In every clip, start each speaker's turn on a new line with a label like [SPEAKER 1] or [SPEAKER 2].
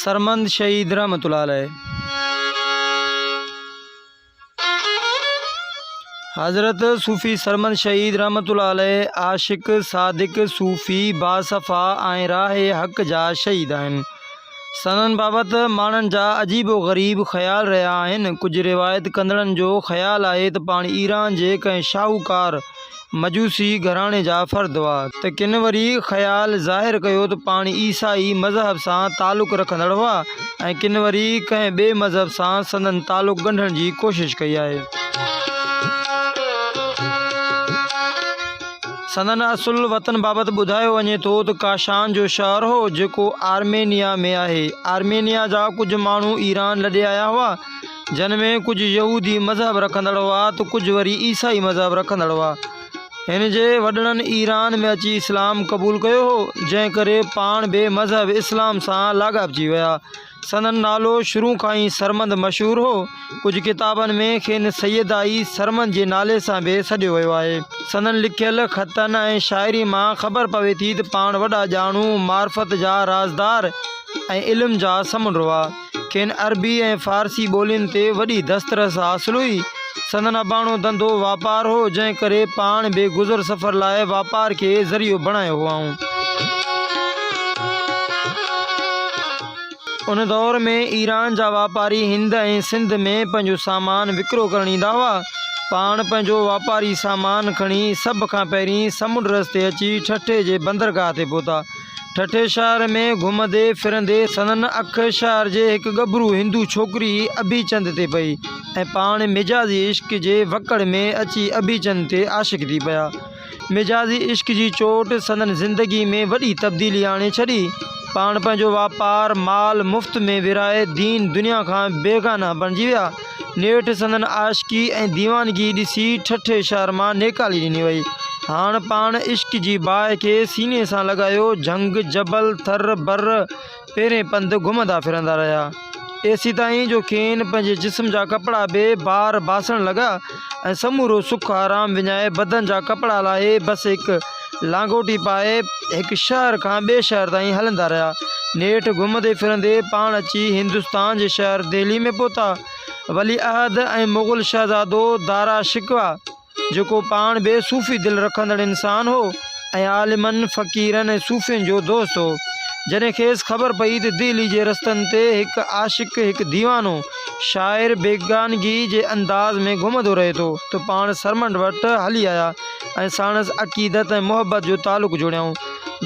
[SPEAKER 1] سرمند شهيد رحمت الله عليه حضرت صوفي سرمند شهيد رحمت الله عليه عاشق صادق صوفي باصفا ۽ راهي حق جا شهيد آهن سندن بابت ماڻهن جا عجيب و غريب خيال رهيا آهن. ڪجهه روايت ڪندڙن جو خيال آهي ته پاڻ ايران جي ڪنهن شاهوڪار مجوسي گهراڻي جا فرد هئا، ته ڪن وري خيال ظاهر ڪيو ته پاڻ عيسائي مذهب سان تعلق رکندڙ هئا ۽ ڪن وري ڪنهن ٻئي مذهب سان سندن تعلق ڳنڍڻ جي ڪوشش ڪئي آهي. سندن اصل وطن بابت ٻڌايو وڃي ٿو ته ڪاشان جو شهر هو جيڪو آرمينيا ۾ آهي. آرمينيا جا ڪجهه ماڻهو ايران لڏي آيا هئا جن ۾ ڪجهه يهودي مذهب رکندڙ هئا ته ڪجهه وري عيسائي مذهب رکندڙ هئا. هن جي وڏڙن ايران ۾ اچي اسلام قبول ڪيو هو جنهن ڪري پاڻ بي مذهب اسلام سان لاڳاپجي ويا. سندن نالو شروع کان ئي سرمد مشهور هو. ڪجهه ڪتابن ۾ کين سيدائي سرمد جي نالي سان به سڏيو ويو آهي. سندن لکيل خطن ۽ شاعري مان خبر پوي ٿي ته پاڻ وڏا ڄاڻو، معرفت جا رازدار ۽ علم جا سمنڊ هئا. کين عربي ۽ فارسي ٻولين تي وڏي دسترس حاصل هئي. سندن اباڻو ڌنڌو واپار هو، جنهن ڪري پاڻ به گذر سفر لاء واپار کي ذريعو بڻايو هئائون. ان دور ۾ ايران جا واپاري هند ۽ سنڌ ۾ پنهنجو سامان وڪرو ڪرڻ ايندا هئا. پاڻ پنهنجو واپاري سامان کڻي سڀ کان پهرين سمنڊ رستي اچي ٺٽي جي بندرگاهه تي پهتا. ٺٽي شهر ۾ گهمندي ڦرندي سندن اک شهر جي هڪ ڳڀرو هندو ڇوڪري اڀيچند تي پئي ۽ پاڻ مجازي عشق جي وڪڙ ۾ اچي اڀيچند تي عاشق ٿي پيا. مجازي عشق جي چوٽ سندن زندگي ۾ وڏي تبديلي آڻي ڇڏي. پاڻ پنهنجو واپار، مال مفت ۾ ورهائي دين دنيا کان بيگانه بڻجي ويا. نيٺ سندن عاشقي ۽ ديوانگي ڏسي ٺٺي شهر مان نيڪالي ڏني وئي. هاڻ پاڻ عشق جي باهه کي سيني سان لڳايو جهنگ، جبل، ٿر، بر پيرين پنڌ گهمندا ڦرندا رهيا. ايسيتائين جو کين پنهنجي جسم جا ڪپڙا به بار باسڻ لڳا. ۽ سمورو سک آرام وڃائي بدن جا ڪپڙا لاهي بس هڪ لانگوٽي پائي هڪ شهر کان ٻئي شهر تائين هلندا رهيا. نيٺ گهمندي ڦرندي پاڻ اچي هندستان جي شهر دهلي ۾ پهتا. ولي عهد ۽ مغل شهزادو دارا شڪوه جيڪو پاڻ به صوفي دل رکندڙ انسان هو ۽ عالمن، فقيرن ۽ صوفين جو دوست هو. جڏهن کيس خبر پئي ته دهلي جي رستن تي هڪ عاشق، هڪ ديوانو، شاعر بيگانگيء جي انداز ۾ گهمندو رهي ٿو ته پاڻ سرمنڊ وٽ هلي آيا ۽ ساڻس عقيدت ۽ محبت جو تعلق جوڙيائون.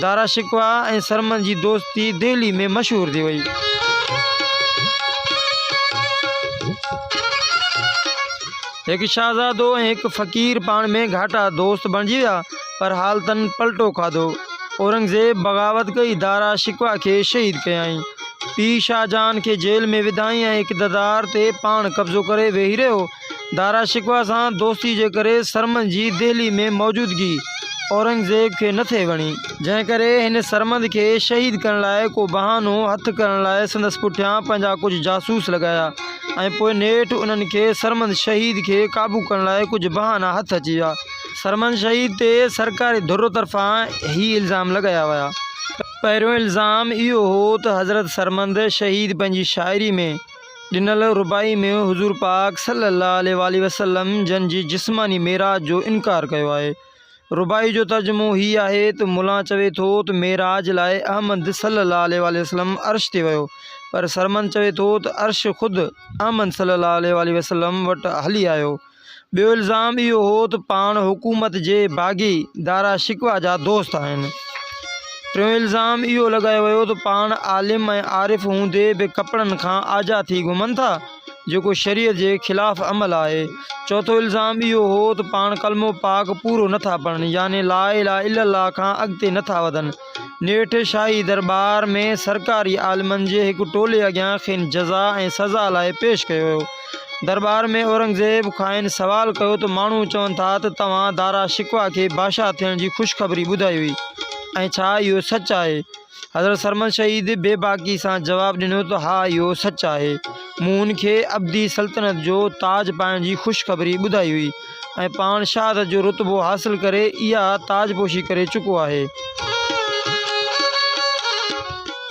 [SPEAKER 1] دارا شڪوه ۽ سرمنڊ جي دوستي دهلي ۾ مشهور ٿي وئي. هڪ شهزادو ۽ هڪ فقير پاڻ ۾ گهاٽا دوست بڻجي ويا، پر حالتن پلٽو کاڌو. اورنگزيب بغاوت ڪئي، دارا شڪوه کي شهيد ڪيائين. پيء شاهه جهان کي جيل ۾ وڌائين ۽ اقتدار تي پاڻ قبضو ڪري ويهي رهيو. دارا شڪوه سان دوستي جي ڪري سرمد جي دهلي ۾ موجودگي اورنگزيب کي نه ٿي وڻي. جنهن ڪري هن سرمد کي شهيد ڪرڻ لاء ڪو بهانو هٿ ڪرڻ لاء سندس پٺيان پنهنجا ڪجهه جاسوس لڳايا ۽ پوء نيٺ انهن کي سرمد شهيد کي قابو ڪرڻ لاء ڪجهه بهانا هٿ اچي ويا. سرمد شهيد تي سرڪاري ڌر طرفان هي الزام لڳايا ويا ته. پهريون الزام اهو هو ته حضرت سرمد شهيد پنهنجي شاعري ۾ ڏنل رباعي ۾ حضور پاڪ صلي الله عليه واٰله وسلم جن جي جسماني معراج جو انڪار ڪيو آهي. رباعي جو ترجمو هي آهي ته ملان چوي ٿو ته معراج لاء احمد صلي الله عليه واٰله وسلم عرش تي ويو پر سرمد چوي ٿو ته عرش خود احمد صلي الله عليه واٰله وسلم وٽ هلي آيو. ٻيو الزام اهو هو ته پاڻ حڪومت جي باغي دارا شڪوه جا دوست آهن. ٽيون الزام اهو لڳايو ويو ته پاڻ عالم ۽ عارف هوندي به ڪپڙن کان آجا ٿي گهمن ٿا، جيڪو شريعت جي خلاف عمل آهي. چوٿون الزام اهو هو ته پاڻ ڪلمو پاڪ پورو نٿا پڙهن يعني لا اله الا الله کان اڳتي نٿا وڌن. نيٺ شاهي درٻار ۾ سرڪاري عالمن جي هڪ ٽولي اڳيان کين جزا ۽ سزا لاء پيش ڪيو ويو. درٻار ۾ اورنگزيب کانئن سوال ڪيو ته ماڻهو چون ٿا ته توهان دارا شڪوه کي باشاه ٿيڻ جي خوشخبري ٻڌائي هئي ۽ ڇا اهو سچ آهي؟ حضرت سرمد شهيد بي باڪي سان جواب ڏنو ته ها اهو سچ آهي. مون هن کي ابدي سلطنت جو تاج پائڻ جي خوشخبري ٻڌائي هئي. ۽ پاڻ شهادت جو رتبو حاصل ڪري اها تاج پوشي ڪري چڪو آهي.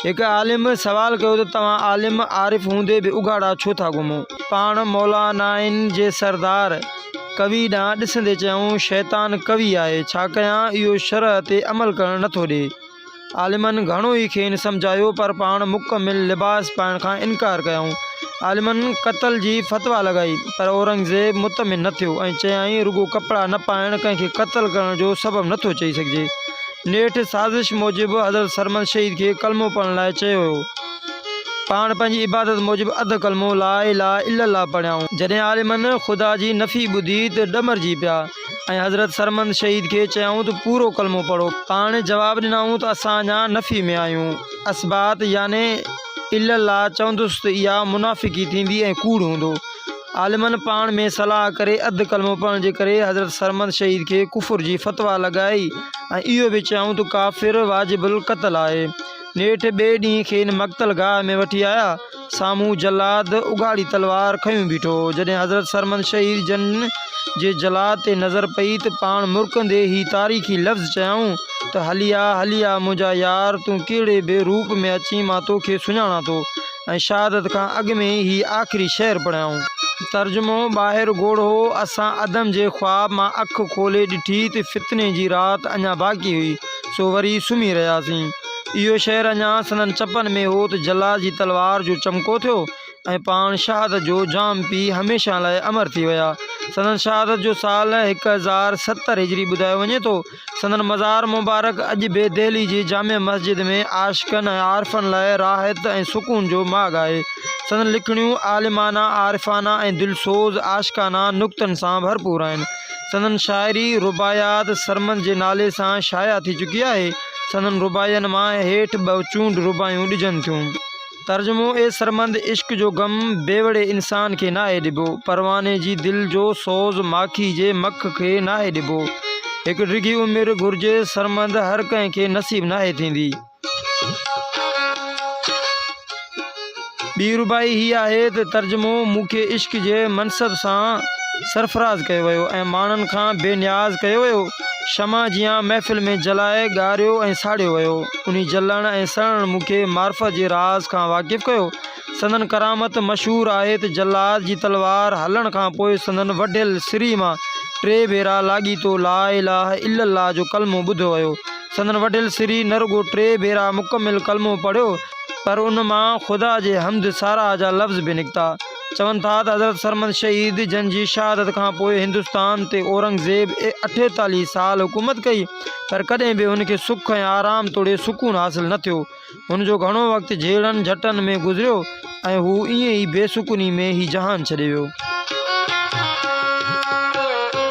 [SPEAKER 1] هڪ عالم سوال ڪيو ته توهان عالم عارف هوندي به اگهاڙا ڇو ٿا گهمو؟ پاڻ مولانائن جي سردار ڪوي ڏانهن ڏسندي چيائون شيطان قوي آهي ڇا ڪيان اهو شرع تي عمل ڪرڻ نٿو ڏي. عالمن گهڻو ئي کين سمجهايو پر پاڻ مڪمل لباس پائڻ کان انڪار ڪيائون. عالمن قتل جي فتويٰ لڳائي پر اورنگزيب مطمئن نه ٿيو ۽ چيائين رڳو ڪپڙا نه پائڻ ڪنهن کي قتل ڪرڻ جو سبب نه ٿو چئي سگهجي. نيٺ سازش موجب حضرت سرمد شهيد کي ڪلمو پڙهڻ لاء چيو ويو. پاڻ پنهنجي عبادت موجب اڌ ڪلمو لا اله الا الله پڙهيائون. جڏهن عالمن خدا جي نفي ٻڌي ته ڏمرجي پيا. ۽ حضرت سرمند شهيد کي چيائون ته پورو ڪلمو پڙهو. پاڻ جواب ڏنائون ته اسان اڃا نفي ۾ آهيون. اثبات يعني الا الله چوندس ته اها منافقي ٿيندي ۽ ڪوڙ هوندو. عالمن پاڻ ۾ صلاح ڪري اڌ ڪلمو پڙهڻ جي ڪري حضرت سرمند شهيد کي ڪفر جي فتويٰ لڳائي ۽ اهو به چيائون ته ڪافر واجب القتل آهي. نيٺ ٻئي ڏينهن کين مقتل گاهه ۾ وٺي آيا. سامهون جلاد اگهاڙي تلوار کنيو بيٺو هو. جڏهن حضرت سرمد شهير جن جي جلاد تي نظر پئي ته پاڻ مرڪندي هي تاريخي لفظ چيائون ته هلي آ، هلي آ منهنجا يار، تون ڪهڙي به روپ ۾ اچين مان توکي سڃاڻان ٿو ۽ شهادت کان اڳ ۾ ئي هي آخري شعر پڙهيائون. ترجمو، ٻاهر گوڙ هو، اسان عدم جي خواب مان اک کولي ڏٺي ته فتني جي رات اڃا باقي هئي، سو وري سمهي رهياسين. اهو شعر اڃا سندن چپن ۾ هو ته جلال جي تلوار جو چمڪو ٿيو ۽ پاڻ شهادت جو جام پي هميشه لاء امر ٿي ويا. سندن شهادت جو سال هڪ هزار ستر هجري ٻڌايو وڃي ٿو. سندن مزار مبارڪ اڄ به دهلي جي جامع مسجد ۾ عاشقن ۽ عارفن لاء راحت ۽ سڪون جو ماڳ آهي. سندن لکڻيون عالمانه، عارفانه ۽ دلسوز عاشقانه نڪتن سان ڀرپور آهن. سندن شاعري رباعيات سرمد جي نالي سان شايع ٿي چڪي آهي. سندن رباعين مان هيٺ ٻه چونڊ رباعيون ڏجن ٿيون. ترجمو، اي سرمند! عشق جو غم بيوڙي انسان کي ناهي ڏبو. پرواني جي دل جو سوز ماکي جي مک کي ناهي ڏبو. هڪ ڊگهي عمر گهرجي سرمند هر ڪنهن کي نصيب ناهي ٿيندي. ٻي رباعي هيء آهي ته ترجمو مون کي عشق جي منصب سان سرفراز ڪيو ويو ۽ ماڻهن کان بي نياز ڪيو ويو، شمع جيان محفل ۾ جلائي ڳاريو ۽ ساڙيو ويو. انهي جلڻ ۽ سڙڻ مون کي معرفت جي راز کان واقف ڪيو. سندن ڪرامت مشهور آهي ته جلاد جي تلوار هلڻ کان پوء سندن وڍيل سري مان ٽي ڀيرا لاڳيتو لا اله الا الله جو ڪلمو ٻڌو ويو. سندن وڏيل سري نه رڳو ٽي ڀيرا مڪمل ڪلمو پڙهيو پر ان مان خدا جي حمد ساراهه جا لفظ به نڪتا. چون ٿا ته حضرت سرمد شهيد جن جي شهادت کان پوء هندستان تي اورنگزيب اٺيتاليهه سال حڪومت ڪئي پر ڪڏهن به هن کي سک ۽ آرام توڙي سڪون حاصل نه ٿيو. هن جو گهڻو وقت جهيڙن جهٽن ۾ گذريو ۽ هو ائين ئي بي سڪوني ۾ هي جهان ڇڏي ويو.